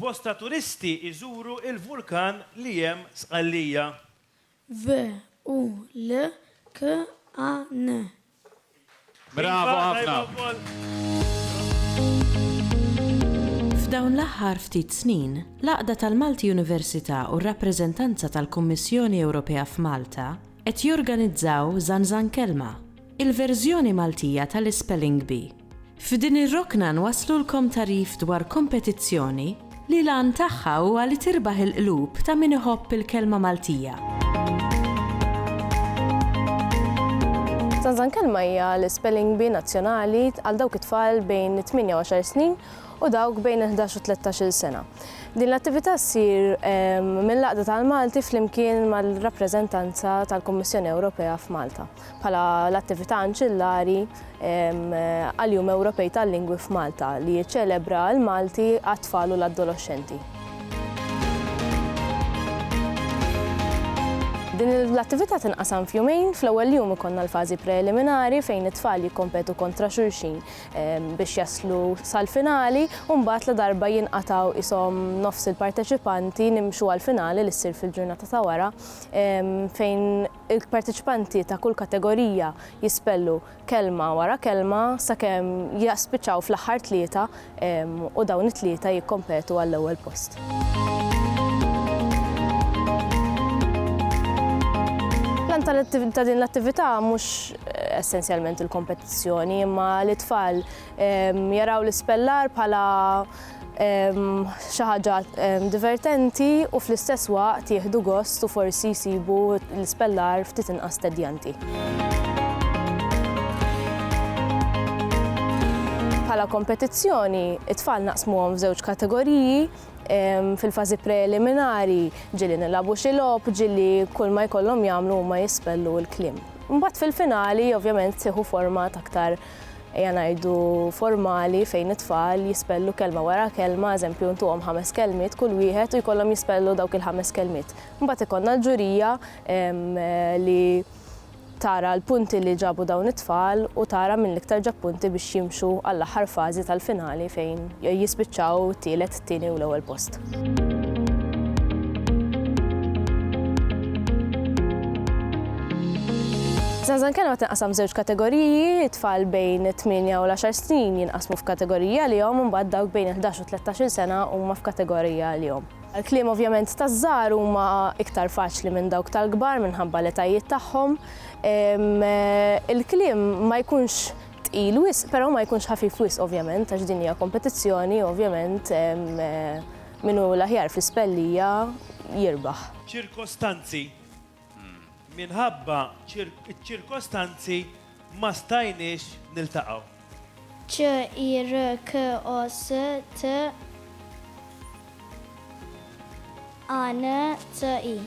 Bosta turisti iżuru il-vulkan li hemm Sqallija. V-u-l-k-a-n Bravo ħafna. F'dawn l-aħħar ftit snin, l-Għaqda tal-Malti Università u r-Rappreżentanza tal-Kummissjoni Ewropea f'Malta qed jorganizzaw Zanzan Kelma, il-verżjoni Maltija tal-Ispelling Bee. F'din ir-rokna nwasslulkom tagħrif dwar kompetizzjoni li l-għan tagħha huwa li tirbaħ il-qlub ta' min iħobb il-kelma Maltija. Zanzan Kelma hija l-spelling bee nazzjonali għal dawk it-tfal bejn it-tmienja u għaxar snin u dawk bejn il-ħdax u tlettax-il sena. Din l-attività ssir ehm, mill-Għaqda tal-Malti flimkien mal-rappreżentanza tal-Kummissjoni Ewropea f'Malta. bħala l-attività anċillari għall-Jum Ewropej tal-Lingwi f'Malta li jiċċelebra l-Malti għat-tfal u l-adoloxxenti. Din l-attività tinqasam f'jumejn, fl-ewwel jum ikollna l-fażi preliminari fejn it-tfal jikkompetu kontra xulxin ehm, biex jaslu sal-finali u mbagħad la darba jinqataw isom nofs il-parteċipanti nimxu għall-finali li ssir fil-ġurnata ta' wara ehm, fejn Il-parteċipanti ta' kull kategorija jispellu kelma wara kelma sakemm jispiċċaw fl-aħħar tlieta u dawn it-tlieta jikkompetu għall-ewwel post. L-għan ta' din l-attività mhux essenzjalment il-kompetizzjoni imma li t-tfal jaraw l-ispellar bħala xi ħaġa divertenti u fl-istess waqt jieħdu gost u forsi jsibu l-ispellar ftit inqas tedjanti. Bħala kompetizzjoni, it-tfal naqsmuhom f'żewġ kategoriji, fil-fażi preliminari ġieli nilagħbu xi logħob, ġieli kull ma jkollhom jagħmlu huma jispellu l-kliem. Imbagħad fil-finali ovvjament tieħu format aktar ejja ngħidu formali fejn it-tfal jispellu kelma wara kelma, eżempju ntuhom ħames kelmiet kull wieħed u jkollhom jispellu dawk il-ħames kelmiet. Mbagħad ikollna l-ġurija li tara l-punti li ġabu dawn it-tfal u tara min l-iktar ġab punti biex jimxu għall-aħħar fażi tal-finali fejn jispiċċaw tielet t-tieni u l-ewwel post. Zanzan kelma tinqasam żewġ kategoriji, tfal bejn 8 u 10 snin jinqasmu f'kategorija li jom mbagħad dawk bejn 11 u 13 sena huma f'kategorija li jom. Il-kliem ovvjament ta' żgħar huma iktar faċli minn dawk tal-kbar minħabba l-etajiet tagħhom. Il-kliem ma jkunx tqil wisq, però ma jkunx ħafif wisq ovvjament għax din hija kompetizzjoni ovvjament min hu l-aħjar fl-ispellija jirbaħ. Ċirkostanzi, Minħabba ċ-ċirkostanzi ma stajniex niltaqgħu. CIRCOSTANZI, ANCI.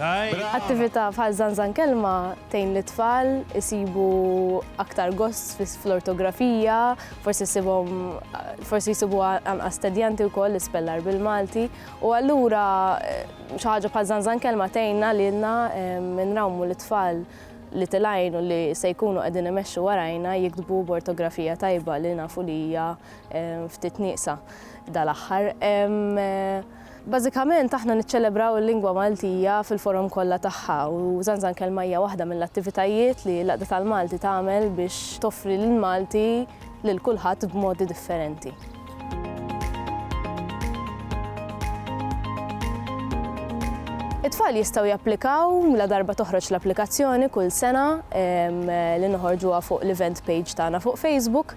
Attività bħal Żanżan Kelma tgħin lit-tfal isibu aktar gost fl-ortografija, forsi jsibhom forsi jsibuha anqas tedjanti wkoll l-ispellar bil-Malti. U allura xi ħaġa bħal Żanżan Kelma tgħinna lilna nrawmu lit-tfal li tilgħin u li se jkunu qegħdin imexxu warajna jiktbu b'ortografija tajba li nafu li hija ftit nieqsa dal-aħħar. Bażikament aħna niċċelebraw il-lingwa Maltija fil-forom kollha tagħha u Żanżan Kelma hija waħda mill-attivitajiet li l-Għaqda tal-Malti tagħmel biex toffri lill-Malti lil kulħadd b'modi differenti. It-tfal jistgħu japplikaw ladarba toħroġ l-applikazzjoni kull sena li noħorġuha fuq l-event page tagħna fuq Facebook.